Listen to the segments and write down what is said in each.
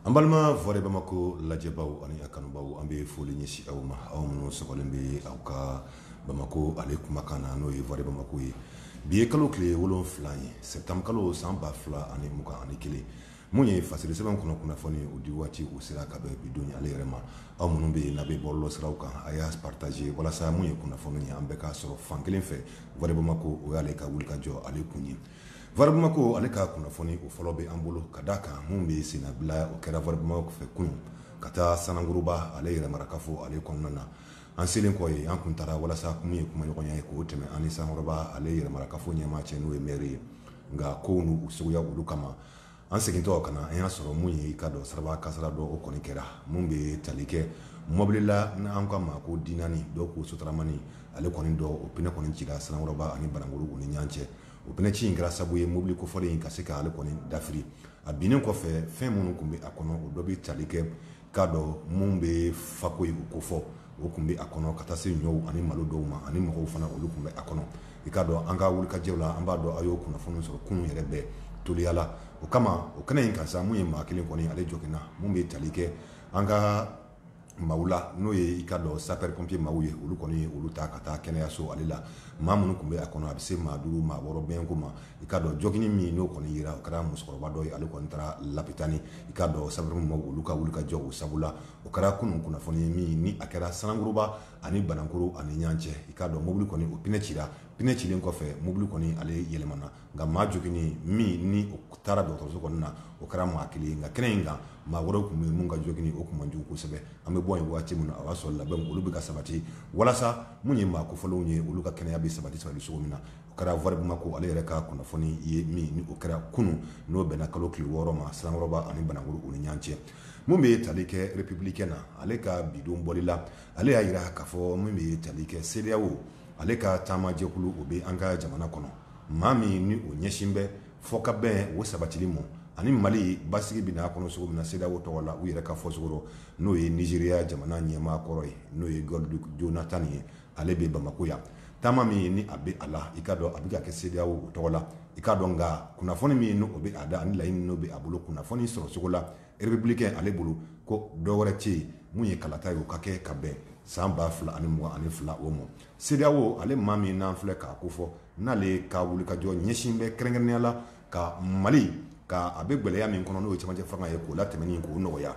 An balima Voix de Bamako lajɛbaaw ani a kanubaaw an bɛ foli ɲɛsin aw ma aw minnu sɔgɔlen bɛ aw ka Bamako ale kumakan na n'o ye Voix de Bamako ye bi ye kalo kile wolonfila ye septembre kalo san ba fila ani mugan ani kelen mun ye fasiri sɛbɛn kɔnɔ kunnafoni o di waati o sera ka bɛn bi don ale yɛrɛ ma aw minnu bɛ n'a bɛ bɔlɔlɔsiraw kan a y'a partager walasa mun ye kunnafoni ye an bɛɛ k'a sɔrɔ fan kelen fɛ Voix de Bamako o y'ale ka wulikajɔ ale kun ye Voix de Bamako ale ka kunnafoni o fɔlɔ bɛ an bolo ka da a kan min bɛ senna bi la o kɛra Voix de Bamako fɛ kunun ka taa Sanankɔrɔba ale yɛrɛ mara kafo ale kɔnɔna na an selen kɔ ye an tun taara walasa ko min ye kumaɲɔgɔnya ye k'o tɛmɛ an ni Sanankɔrɔba ale yɛrɛ mara kafo ɲɛmaa cɛ n'o ye mɛri ye nka ko ninnu suguya olu kama an segintɔ ka na an y'a sɔrɔ mun ye i ka dɔn siraba kasaara dɔ o kɔni kɛra min bɛ tali kɛ mɔbili la n'an ka mako dilanni dɔ ko sotaramani ale kɔni dɔ o pine kɔni cira Sanankɔrɔba ani Banankɔrɔ u ni ɲɔgɔn cɛ o pine ci in kɛra sabu ye mobili kofɔlen in ka se k' ale kɔni dafiri a binnen kɔfɛ fɛn minnu tun bɛ a kɔnɔ o dɔ bɛ tali kɛ k'a dɔn min bɛ fako in kofɔ o tun bɛ a kɔnɔ ka taa se ɲɔw ani malo dɔw ma ani mɔgɔw fana olu tun bɛ a kɔnɔ i k'a dɔn an ka wulikajɔw la an b'a dɔn a y'o kunnafoni sɔrɔ kunun yɛrɛ bɛɛ teliya la o kama o kɛnɛ in kan sa min ye maa kelen kɔni ale joginna min bɛ tali kɛ an ka maaw la n'o ye i ka dɔn sapeurs-pompiers maaw ye olu kɔni olu ta ka taa kɛnɛyaso ale la maa minnu tun bɛ a kɔnɔ a bɛ se maa duuru maa wɔɔrɔ bɛnko ma i ka dɔn joginnen min n'o kɔni jira o kɛra musokɔrɔba dɔ ye ale kɔni taara lapitani i ka dɔn sapeurs maa olu ka wuli ka jɔ o sabu la o kɛra kunun kunnafoni ye min ni a kɛra Sanankɔrɔba ani Banankɔrɔ ani ɲɔgɔn cɛ i ka dɔn mobili kɔni o pine cira pine cilen kɔfɛ mobili kɔni ale yɛlɛmana nka maa joginnen min ni o taara dɔgɔtɔrɔso kɔnɔna o kɛra maa kelen ye nka kɛnɛ in kan maa wɛrɛw tun bɛ yen minnu ka joginni o tun man jugu kosɛbɛ an bɛ bɔ yen waati min na o y'a sɔrɔ labɛnw olu bɛ ka sabati walasa min ye maa kofɔlenw ye olu ka kɛnɛya bɛ sabati sabati cogo min na O kɛra Voix de Bamako ale yɛrɛ ka kunnafoni ye min o kɛra kunun n'o bɛnna kalo kile wɔɔrɔ ma Sanankɔrɔba ani Banankɔrɔ u ni ɲɔgɔn cɛ min bɛ tali kɛ Républicain na ale ka bi don bɔli la ale y'a jira k'a fɔ min bɛ tali kɛ CEDEAO ale ka taamajɛkulu o bɛ an ka jamana kɔnɔ maa min ni o ɲɛsin bɛ fokabɛn o sabatili ma ani mali basigi bɛ na a kɔnɔ cogo min na CEDEAO tɔgɔ la u yɛrɛ ka fɔcogo rɔ n'o ye Nizeriya jamana ɲɛmaa kɔrɔ ye n'o ye Goodluck Jonathan ye ale bɛ Bamako yan taama min ye ni a bɛ a la i ka dɔn a bɛ ka kɛ CEDEAO o tɔgɔ la i ka dɔn nka kunnafoni min ye n' o bɛ a da ani laɲini n'o bɛ a bolo kunnafoni sɔrɔ cogo la Républicain ale bolo ko dɔ wɛrɛ tɛ yen mun ye kalata ye o ka kɛ ka bɛn san ba fila ani mugan ani fila o ma CEDEAO ale maa min n'an filɛ k'a kofɔ n'ale ka wulikajɔ ɲɛsin bɛ kɛrɛnkɛrɛnnenya la ka mali ka a bɛ gɛlɛya min kɔnɔ n'o camancɛ fanga ye k'o latɛmɛn k'o nɔgɔya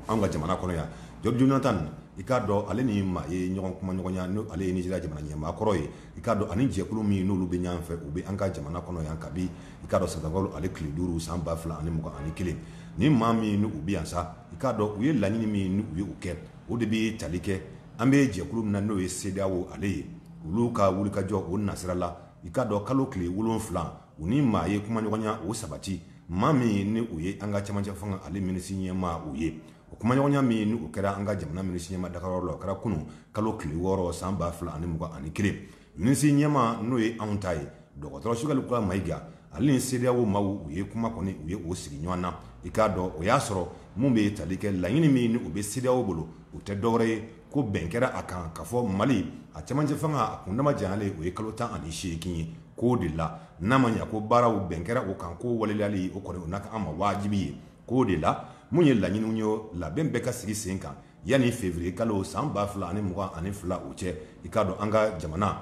an ka jamana kɔnɔ yan Jonathan i k'a dɔn ale ni maa ye ɲɔgɔn kumaɲɔgɔnya n' ale ye Nizeriya jamana ɲɛmaa kɔrɔ ye i k'a dɔn ani jɛkulu min n'olu bɛ ɲɔgɔn fɛ u bɛ an ka jamana kɔnɔ yan kabi i k'a dɔn sɛtanburukalo ale tile duuru san ba fila ani mugan ani kelen ni maa minnu bɛ yan sa i k'a dɔn u ye laɲini min u ye u kɛ o de bɛ tali kɛ an bɛ jɛkulu min na n'o ye CEDEAO ale ye olu ka wulikajɔ o nasirala i k'a dɔn kalo tile wolonfila u ni maa ye kumaɲɔgɔnya o sabati maa min ye ni u ye an ka camancɛ fanga ale minisi ɲɛmaa u ye o kumaɲɔgɔnya min ni u kɛra an ka jamana minisi ɲɛma dagayɔrɔ la o kɛra kunun kalo tile wɔɔrɔ san ba fila ani mugan ani kelen minisi ɲɛma n'o ye anw ta ye dɔgɔtɔrɔ Sogɛli Kokala Mayiga ale ni CEDEAO maaw u ye kuma kɔni u ye o sigi ɲɔgɔn na i k'a dɔn o y'a sɔrɔ minnu bɛ tali kɛ laɲini min ni o bɛ CEDEAO bolo u tɛ dɔwɛrɛ ye ko bɛn kɛra a kan k'a fɔ mali a cɛmancɛ fanga a kundama janyalen o ye kalo tan ani seegin ye k'o de la n'a ma ɲɛ ko baaraw bɛn kɛra o kan ko waleyali o kɔni o na kɛ an ma wajibi ye k'o de la mun ye laɲiniw ye labɛn bɛɛ ka sigi sen kan yanni février kalo san ba fila ani mugan ani fila o cɛ i k'a dɔn an ka jamana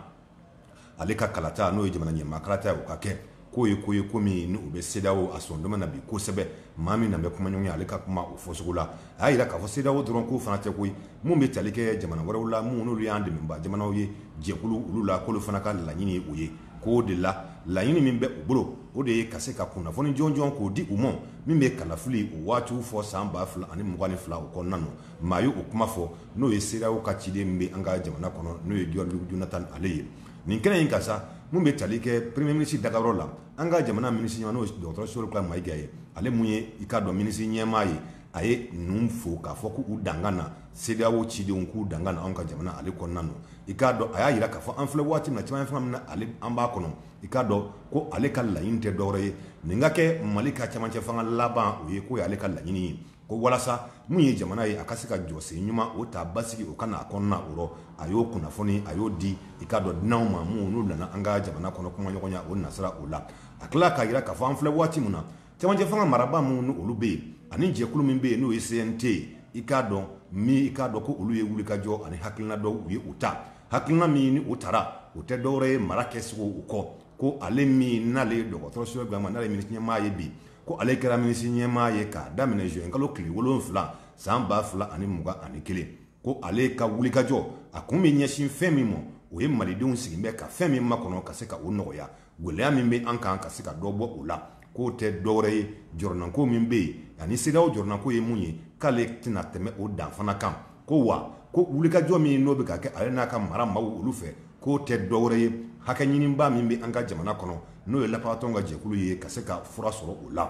ale ka kalata n'o ye jamana ɲɛmaa kalata ye o ka kɛ k'o ye ko ye ko min n'o bɛ CEDEAO a sɔndɔma na bi kosɛbɛ maa min n'a bɛ kumaɲɔgɔnya ale ka kuma o fɔcogo la a y'a jira k'a fɔ CEDEAO dɔrɔn ko fana tɛ koyi minnu bɛ tali kɛ jamana wɛrɛw la minnu n'olu y'an dɛmɛnbaa jamanaw ye jɛkulu olu la k'olu fana ka laɲini ye o ye k'o de la laɲini min bɛ u bolo o de ye ka se ka kunnafoni jɔnjɔn k'o di u ma min bɛ kalafili o waatiw fɔ san ba fila ani mugan ni fila o kɔnɔna na maa ye o kuma fɔ n'o ye CEDEAO ka ciden bɛ an ka jamana kɔnɔ n'o ye Goodluck Jonathan ale ye nin kɛnɛ in kan sa minnu bɛ tali kɛ premier ministre dagayɔrɔ la an ka jamana minisiri ɲɛmaa n'o dɔgɔtɔrɔ Sogɛli Kokala Mayiga ye ale min ye i k'a dɔn minisiri ɲɛmaa ye a ye ninnu fo k'a fɔ k'u danga na CEDEAO cidenw k'u danga na an ka jamana ale kɔnɔna na i k'a dɔn a y'a jira k'a fɔ an filɛ waati na camancɛ fanga min na ale an b'a kɔnɔ i k'a dɔn ko ale ka laɲini tɛ dɔwɛrɛ ye nin ka kɛ mali ka camancɛ fanga laban o ye k'o ye ale ka laɲini ye ko walasa min ye jamana ye a ka se ka jɔsen ɲuman o ta basigi o ka na a kɔnɔna o rɔ a y'o kunnafoni a y'o di i k'a dɔn dunanw ma minnu n'u nana an ka jamana kɔnɔ kumaɲɔgɔnya o nasira o la a tila k'a jira k'a fɔ an filɛ waati min na cɛmancɛ fanga maraba minnu ni olu bɛ yen ani jɛkulu min bɛ yen n'o ye CNT ye i k'a dɔn min i k'a dɔn ko olu ye wulikajɔ ani hakilina dɔw u ye u ta hakilina min ni u tara o tɛ dɔwɛrɛ ye mara kɛcogo u kɔ ko ale min n'ale ye dɔgɔtɔrɔ Sogɛli Kokala Mayiga n'ale ye minisiri ɲɛmaa ye bi ko ale kɛra minisiri ɲɛmaa ye k'a daminɛ juin kalo tile wolonfila san ba fila ani mugan ani kelen ko ale ka wulikajɔ a kun bɛ ɲɛsin fɛn min ma o ye malidenw sigilen bɛ ka fɛn min makɔnɔ ka se ka o nɔgɔya gɛlɛya min bɛ an kan ka se ka dɔ bɔ o la k'o tɛ dɔwɛrɛ ye jɔrɔnanko min bɛ yen ani CEDEAO jɔrɔnanko ye mun ye k'ale tɛna tɛmɛ o dan fana kan ko wa ko wulikajɔ min n'o bɛ ka kɛ ale n'a ka mara maaw olu fɛ k'o tɛ dɔwɛrɛ ye hakɛ ɲiniba min bɛ an ka jamana kɔnɔ n'o ye lafasatɔn ka jɛkulu ye ka se ka fura sɔrɔ o la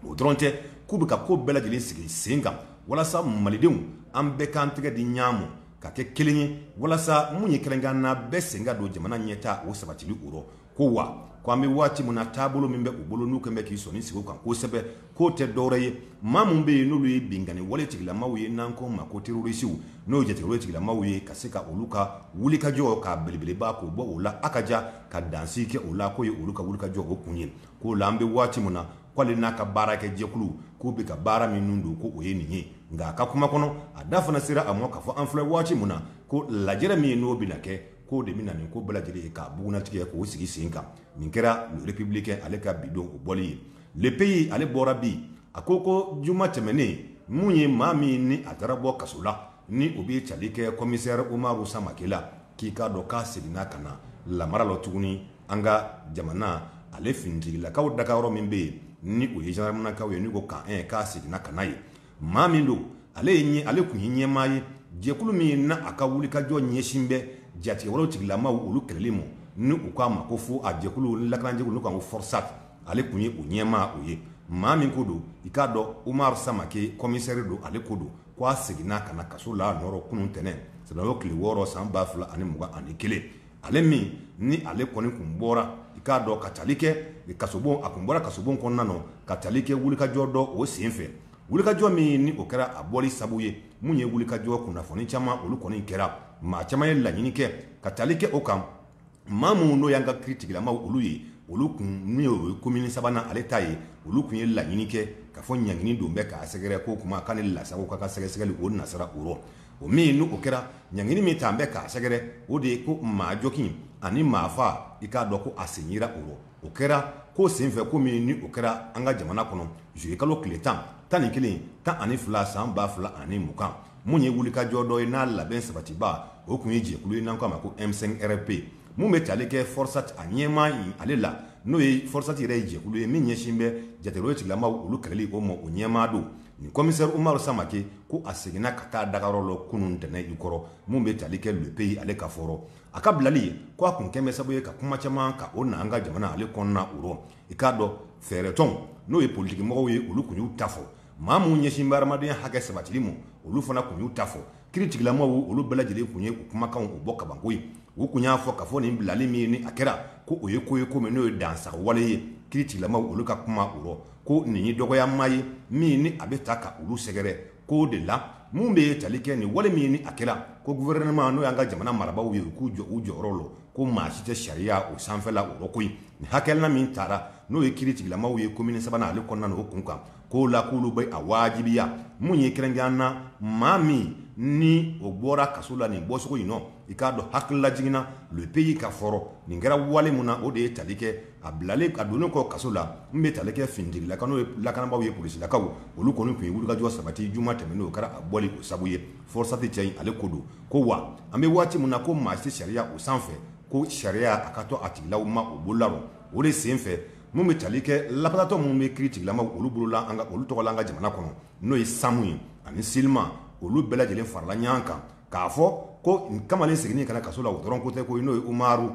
o dɔrɔn tɛ k'u bɛ ka ko bɛɛ lajɛlen sigi sen kan walasa malidenw an bɛɛ k'an tɛgɛ di ɲɔgɔn ma ka kɛ kelen ye walasa minnu ye kɛrɛnkan na bɛɛ sen ka don jamana ɲɛtaa o sabatili o rɔ ko wa ko an bɛ waati min na taabolo min bɛ u bolo n'u kɛn bɛ k'i sɔnin sigi o kan kosɛbɛ k'o tɛ dɔwɛrɛ ye maa minnu bɛ yen n'olu ye binkanni wale tigilamaw ye n'an k'o ma ko terorisiw n'o ye jatigɛwale tigilamaw ye ka se ka olu ka wulikajɔ k'a belebeleba k'o bɔ o la a ka ja ka dansigi kɛ o la k'o ye olu ka wulikajɔ o kun ye k'o la an bɛ waati min na k'ale n'a ka baarakɛjɛkulu k'u bɛ ka baara minnu don ko o ye nin ye nka a ka kuma kɔnɔ a da fana sera a ma k'a fɔ an filɛ waati min na ko lajɛrɛ min ye n'o bɛna kɛ k'o de bɛna nin ko bɛɛ lajɛlen ye k'a bugunnatigɛ k'o sigi sen kan nin kɛra le républicain ale ka bi don o bɔli ye le pays ale bɔra bi a ko ko juma tɛmɛnen min ye maa min ni a taara bɔ kaso la ni o bɛ tali kɛ commissaire Umaru Samake la k'i k'a dɔn k'a seginna ka na lamara la tuguni an ka jamana ale finitigilakaw dagayɔrɔ min bɛ yen ni o ye gendarmenakaw ye n'u ko camp un k'a seginna ka na yen maa min don ale ye ale kun ye ɲɛmaa ye jɛkulu min ye na a ka wulikajɔ ɲɛsin bɛ jatigɛwalew tigilamaw olu kɛlɛli ma ni u k'a ma ko fo a jɛkulu lakanajɛkulu n'u k'a ko Forsat ale kun ye o ɲɛmaa o ye maa min ko don i k'a dɔn umaru samake kɔmisɛri don ale ko don ko a seginna ka na kaso la nɔrɔ kunun ntɛnɛn sɛtanburu tile wɔɔrɔ san ba fila ani mugan ani kelen ale min ni ale kɔni kun bɔra i k'a dɔn ka tali kɛ kasobon a kun bɔra kasobon kɔnɔna na ka tali kɛ wulikajɔ dɔ o sen fɛ wulikajɔ min ni o kɛra a bɔli sabu ye mun ye wulikajɔ kunnafoni caman olu kɔni kɛra maa caman ye laɲini kɛ ka tali kɛ o kan maa minnu n'o y'an ka kiiri tigilamaw olu ye olu kun n'o ye komini sabanan ale ta ye olu kun ye laɲini kɛ ka fɔ ɲangini dɔ bɛ k'a sɛgɛrɛ ko kuma k'ale lasago ka ka sɛgɛsɛgɛli o nasira o rɔ o min n'o kɛra ɲangini min ta an bɛ k'a sɛgɛrɛ o de ye ko maajogin ani maafa i k'a dɔn ko a sen yira o rɔ o kɛra ko senfɛ ko min ni o kɛra an ka jamana kɔnɔ juillet kalo tile tan tan ni kelen tan ani fila san ba fila ani mugan min ye wulikajɔ dɔ ye n'a labɛn sabatiba o kun ye jɛkulu ye n'an k'a ma ko M5-RFP min bɛ tali kɛ Forsat a ɲɛmaa in ale la n'o ye Forsat yɛrɛ ye jɛkulu ye min ɲɛsin bɛ jatigɛwale tigilamaw olu kɛlɛli o ma o ɲɛmaa don nin commissaire Umaru Samake ko a seginna ka taa dagayɔrɔ lɔ kunun ntɛnɛn i kɔrɔ min bɛ tali kɛ Le Pays ale ka fɔ rɔ. A ka bilali ye ko a kun kɛn bɛ sabu ye ka kuma caman ka o na an ka jamana ale kɔnɔna o rɔ. I k'a dɔn fɛɛrɛtɔnw n'o ye politikimɔgɔw ye olu kun y'u ta fɔ. Maa minw ɲɛsin bɛ hadamadenya hakɛ sabatili mɔ olu fana kun y'u ta fɔ. kiritigilamaw olu bɛɛ lajɛlen tun ye u kumakanw u bɔ kabanko ye u tun y'a fɔ ka fɔ nin bilali min ni a kɛra ko o ye ko ye ko min n'o ye dansagon wale ye kiritigilamaw olu ka kuma o rɔ ko nin ye dɔgɔyama ye min ni a bɛ taa ka olu sɛgɛrɛ k'o de la min bɛ ye tali kɛ nin wale min ni a kɛra ko guwɛrɛnɛma n'o y'an ka jamana marabaaw ye u k'u jɔ u jɔyɔrɔ la ko maa si tɛ sariya o sanfɛla o rɔ koyi nin hakilina min tara n'o ye kiritigilamaw ye komini sabanan ale kɔnɔna na o kun kan k'o la k'olu bɛ a wajibiya min ye kɛrɛnkɛrɛn na maa min ni o bɔra kaso la nin bɔcogo in nɔ i k'a dɔn hakililajigin na le pays ka fɔ rɔ nin kɛra wale min na o de ye tali kɛ a bilalen a donnen kɔ kaso la n bɛ tali kɛ finitigilakaw n'o ye lakanabaaw ye polisilakaw olu kɔni tun ye wulikajɔ sabati juma tɛmɛnen o kɛra a bɔli o sabu ye fɔrisati cɛ in ale ko don ko wa an bɛ waati min na ko maa si sariya o sanfɛ ko sariya a ka to a tigilama o bolola rɔ o de sen fɛ min bɛ tali kɛ laparatɔn minnu bɛ kiritigilamaw olu bolola olu tɔgɔ la an ka jamana kɔnɔ n'o ye samu ye ani silima olu bɛɛ lajɛlen farala ɲɔgɔn kan k'a fɔ ko kamalen seginni ka na kaso la o dɔrɔn ko tɛ ko n'o ye umaru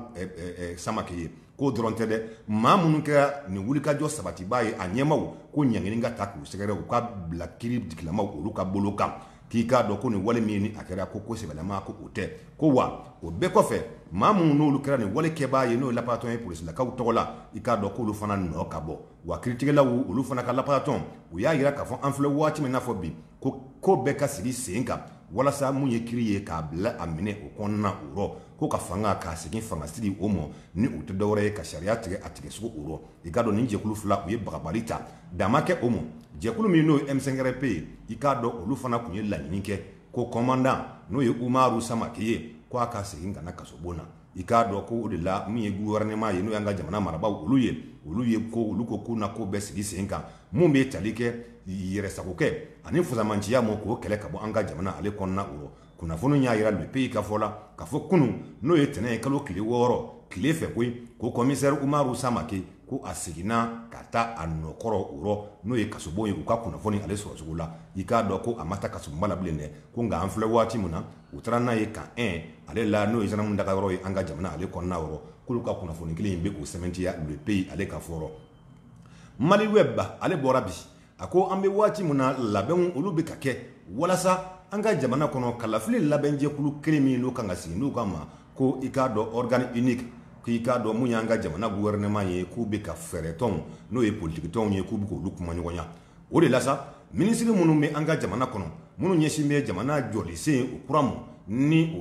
samake ye k'o dɔrɔn tɛ dɛ maa minnu kɛra nin wulikajɔ sabatiba ye a ɲɛmaaw ko ɲangini ka taa k'u sɛgɛrɛ u ka bila kiritigilamaw olu ka bolo kan k'i k'a dɔn ko nin wale min ni a kɛra ko ko sɛbɛlama ko o tɛ ko wa o bɛɛ kɔfɛ maa minnu n'olu kɛra nin wale kɛbaa ye n'o ye laparatɔn ye polisilakaw tɔgɔ la i k'a dɔn k'olu fana nɔ ka bɔ wa kiritigɛlaw olu fana ka laparatɔn u y'a yira k'a fɔ an filɛ waati min n'a fɔ bi ko ko bɛɛ ka sigi sen kan walasa min ye kiri ye k'a bila a minɛ o kɔnɔna o rɔ ko ka fanga k'a segin fangasigi o ma ni o tɛ dɔwɛrɛ ye ka sariya tigɛ a tigɛcogo o i k'a dɔn nin jɛkulu fila u ye bagabali ta dama kɛ o ma jɛkulu min n'o ye M5-RFP ye i k'a dɔn olu fana tun ye laɲini kɛ ko kɔmandan n'o ye umaru samake ye ko a ka segin ka na kasobon na i k'a dɔn ko o de la min ye guwɛrɛnɛma ye n'o y'an ka jamana marabaaw olu ye olu ye ko olu ko k'u na ko bɛɛ sigi sen kan min bɛ tali kɛ yɛrɛsagokɛ ani fusamanciya ma k'o kɛlɛ ka bɔ an ka jamana ale kɔnɔna o kunnafoni y'a yira le pays ka fɔ la ka fɔ kunun n'o ye tɛnɛ ye kalo tile wɔɔrɔ tile fɛ koyi ko kɔmisɛri umaru samake ko a seginna ka taa a nɔkɔrɔ o rɔ n'o ye kasobon ye u ka kunnafoni ale sɔrɔcogo la i k'a dɔn ko a ma taa kasobonba la bilen dɛ ko nka an filɛ waati min na u taara n'a ye kan ɛn ale la n'o ye zandaramu daga yɔrɔ ye an ka jamana ale kɔnɔna o rɔ k'olu ka kunnafoni kelen in bɛ k'o sɛmɛntiya le pays ale ka fɔ rɔ mali wɛbu ale bɔra bi A ko an bɛ waati min na labɛnw olu bɛ ka kɛ walasa an ka jamana kɔnɔ kalafili labɛnjɛkulu kelen min n'o kan ka sigi n'u k'a ma ko i k'a dɔn organe unique k'i k'a dɔn min y'an ka jamana guwɛrɛnɛma ye k'u bɛ ka fɛɛrɛtɔnw n'o ye politikitɔnw ye k'u bɛ k'olu kumaɲɔgɔnya o de la sa minisiri minnu bɛ an ka jamana kɔnɔ minnu ɲɛsin bɛ jamana jɔlisen o kura ma ni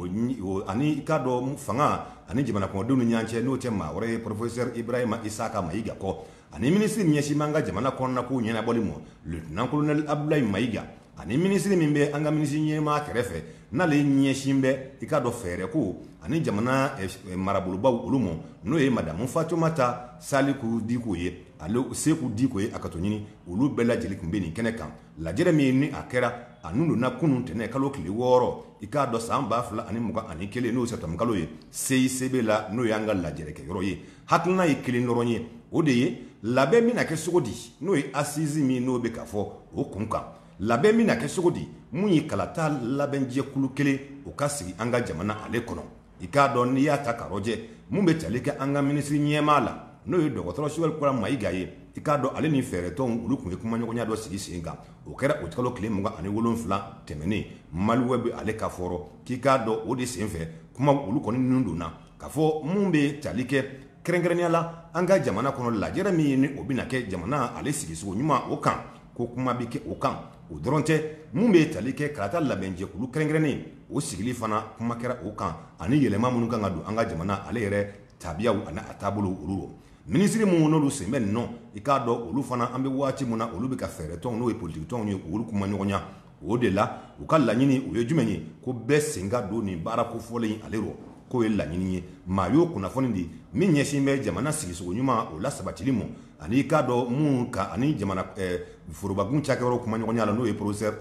ani i k'a dɔn fanga ani jamana kɔnɔdenw ni ɲɔgɔn cɛ n'o tɛ maa wɛrɛ ye pɔrɔfɛsɛri ibrahima isaka mayiga kɔ ani minisiri ɲɛsin b'an ka jamana kɔnɔnako ɲɛnabɔli mɔ lieutenant colonel Abdoulaye Mayiga ani minisiri min bɛ an ka minisiri ɲɛmaa kɛrɛfɛ n'ale ɲɛsin bɛ i k'a dɔn fɛɛrɛko ani jamana eh, eh, marabolobaw olu mɔ n'o ye madamu Fatumata Saliku Diko ye ale Seku Diko ye a ka to ɲini olu bɛɛ lajɛlen tun bɛ nin kɛnɛ kan lajɛrɛ min ni a kɛra a nun donna kunun tɛnɛ kalo tile wɔɔrɔ i k'a dɔn san ba fila ani mugan ani kelen n'o septembre kalo ye CICB la n'o y'an ka lajɛrɛkɛ yɔrɔ ye hakilina ye kelen dɔrɔn ye o de ye labɛn bɛna kɛ cogo di n'o ye assise min n'o bɛ ka fɔ o kun kan labɛn bɛna kɛ cogo di mun ye kalata labɛnjɛkulu kelen o ka sigi an ka jamana ale kɔnɔ i k'a dɔn n'i y'a ta k'a rɔjɛ mun bɛ tali kɛ an ka minisiri ɲɛmaa la n'o ye dɔgɔtɔrɔ Choguel Kokalla mayiga ye i k'a dɔn ale ni fɛɛrɛtɔnw olu tun ye kumaɲɔgɔnya dɔ sigi sen kan o kɛra uti kalo tile mugan ani wolonfila tɛmɛnen Maliweb ale ka fɔ rɔ k'i k'a dɔn o de sen fɛ kuma olu kɔni ninnu donna ka fɔ mun bɛ tali kɛ kɛrɛnkɛrɛnnenya la an ka jamana kɔnɔ lajɛrɛ min ye ni o bɛna kɛ jamana ale sigisogo ɲuman o kan ko kuma bɛ kɛ o kan o dɔrɔn tɛ min bɛ tali kɛ kalata labɛnjɛkulu kɛrɛnkɛrɛnnen o sigili fana kuma kɛra o kan ani yɛlɛma minnu kan ka don an ka jamana ale yɛrɛ tabiyaw ani a taabolow olu rɔ minisiri minnu n'olu sen bɛ nin nɔ i k'a dɔn olu fana an bɛ waati min na olu bɛ ka fɛɛrɛtɔnw n'o ye politikitɔnw ye k'olu kumaɲɔgɔnya o de la u ka laɲini o ye jumɛn ye ko bɛɛ sen ka don nin baara kofɔlen in ale rɔ k'o ye laɲini ye maa y'o kunnafoni di min ɲɛsin bɛ jamana sigisogo ɲuman o la sabatili mɔ ani i k'a dɔn min ka ani jamana forobakun cakɛyɔrɔ kumaɲɔgɔnya la n'o ye professeur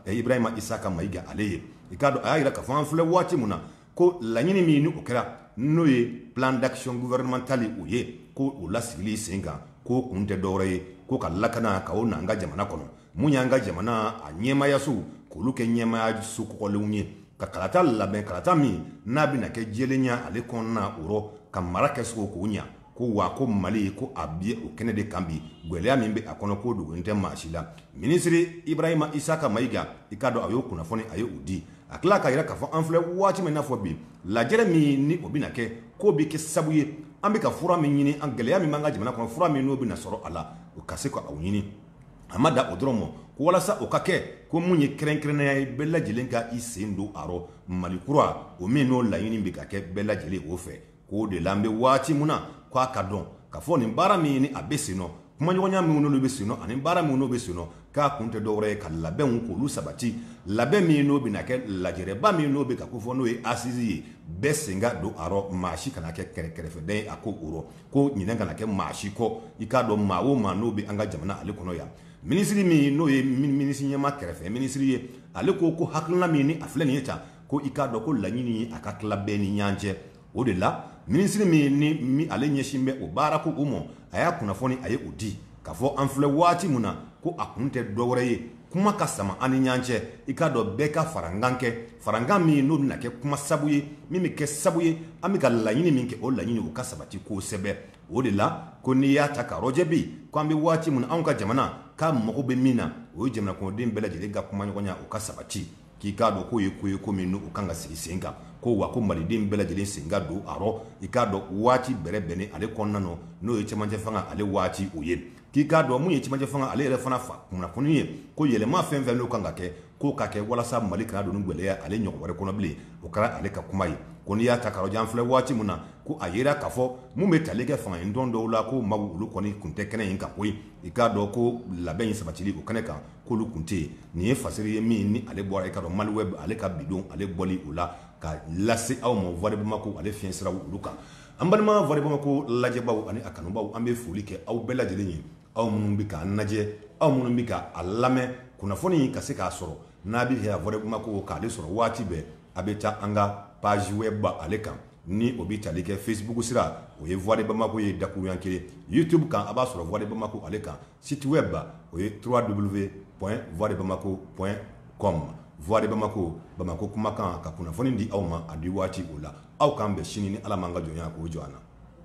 ibrahima isaka mayiga ale ye i k'a dɔn a y'a yira ka fɔ an filɛ waati min na ko laɲini min ni o kɛra n'o ye plan d'action gouvernemental o ye ko o lasigili sen kan k'o kun tɛ dɔwɛrɛ ye ko ka lakana ka o n'an ka jamana kɔnɔ mun y'an ka jamana a ɲɛmayasow k'olu kɛ ɲɛmayaso kɔgɔlenw ye ka kalata labɛn kalata min n'a bɛna kɛ jɛlenya ale kɔnɔna o rɔ ka mara kɛsogo k'o ɲa ko wa ko mali ko a bɛ o kɛnɛ de kan bi gwɛlɛya min bɛ a kɔnɔ k'o dogolen tɛ maa si la minisiri ibrahima isaka mayiga i k'a dɔn a y'o kunnafoni a ye o di a tila k'a yira k'a fɔ an filɛ waati min n'a fɔ bi lajɛrɛ min ni o bɛna kɛ k'o bɛ kɛ sabu ye an bɛ ka fura min ɲini an gɛlɛya min b'an ka jamana kɔnɔ fura min n'o bɛna sɔrɔ a la o ka se ka o ɲini a ma da o dɔrɔn ma ko walasa o ka kɛ ko mun ye kɛrɛnkɛrɛnnenya ye bɛɛ lajɛlen ka i sen don a rɔ mali kura o min n'o laɲini bɛ ka kɛ bɛɛ lajɛlen o fɛ k'o de la an bɛ waati min na k'a ka dɔn ka fɔ nin baara min ye ni a bɛ sen nɔ kumaɲɔgɔnya minnu n'olu bɛ sen nɔ ani baara minnu n'o bɛ sen nɔ k'a kun tɛ dɔwɛrɛ ye ka labɛnw k'olu sabati labɛn min n'o bɛna kɛ lajɛrɛba min n'o bɛ ka kofɔ n'o ye assise ye bɛɛ sen ka don a rɔ maa si kana kɛ kɛrɛfɛden ye a ko o rɔ ko ɲinɛ kana kɛ maa si kɔ i k'a dɔn maa o maa n'o bɛ an ka jamana ale kɔnɔ yan minisiri min n'o ye minisiri ɲɛmaa kɛrɛfɛ minisiri ye ale ko ko hakilina min ni a filɛ nin ye tan ko i k'a dɔn ko laɲini ye a ka tila bɛɛ ni ɲɔgɔn cɛ o de la minisiriri min ni ale ɲɛsin bɛ o baara ko o ma a y'a kunnafoni a ye o di k'a fɔ an filɛ waati min na ko a kun tɛ dɔwɛrɛ ye kuma ka sama an ni ɲɔgɔn cɛ i k'a dɔn bɛɛ ka farankan kɛ Farankan min n'o bɛna kɛ kuma sabu ye min bɛ kɛ sabu ye an bɛ ka laɲini min kɛ o laɲini o ka sabati kosɛbɛ o de la ko n'i y'a ta k'a rɔjɛ bi ko an bɛ waati min na anw ka jamana k'a mago bɛ min na o ye jamana kɔnɔden bɛɛ lajɛlen ka kumaɲɔgɔnya o ka sabati k'i k'a dɔn k'o ye ko ye ko min n'o kan ka sigi sen kan ko wa ko maliden bɛɛ lajɛlen sen ka don a rɔ i k'a dɔn waati bɛrɛ bɛnnen ale kɔnɔna na n'o ye cɛmancɛ fanga ale waati o ye k'i k'a dɔn mun ye cɛmancɛ fanga ale yɛrɛ fana fa kunnafoni ye ko yɛlɛma fɛn fɛn n'o kan ka kɛ k'o ka kɛ walasa mali kana don gwɛlɛya ale ɲɔgɔn wɛrɛ kɔnɔ bilen o kɛra ale ka kuma ye ko n'i y'a ta k'a rɔjɛ an filɛ waati min na ko a yira k'a fɔ mun bɛ tali kɛ fanga tɔn dɔw la ko maa olu kɔni kun tɛ kɛnɛ in kan koyi i k'a dɔn ko labɛn in sabatili o kɛnɛ kan k'olu kun tɛ yen nin ye fasiri ye min ni ale bɔra i k'a dɔn Maliweb ale ka bi don ale bɔli o la ka lase aw ma Voix de Bamako ale fiɲɛ sira olu kan an balima Voix de Bamako lajɛbaaw ani a kanubaw an bɛ foli kɛ aw bɛɛ lajɛlen ye aw minnu bɛ k'a lajɛ aw minnu bɛ ka a lamɛn kunnafoni ka se k'a sɔrɔ n'a bɛ a fɛ Voix de Bamako k'ale sɔrɔ waati bɛɛ a bɛ taa an ka page web ale kan ni o bɛ tali kɛ Facebook sira o ye Voix de Bamako ye dakuruɲɛ kelen YouTube kan a b'a sɔrɔ Voix de Bamako ale kan Site web o ye www.voixdebamako.com voix de bamako Bamako kumakan ka kunnafoni di aw ma a di waati o la aw k'an bɛn sini ni Ala m'an ka jɔnya k'o jɔ an na.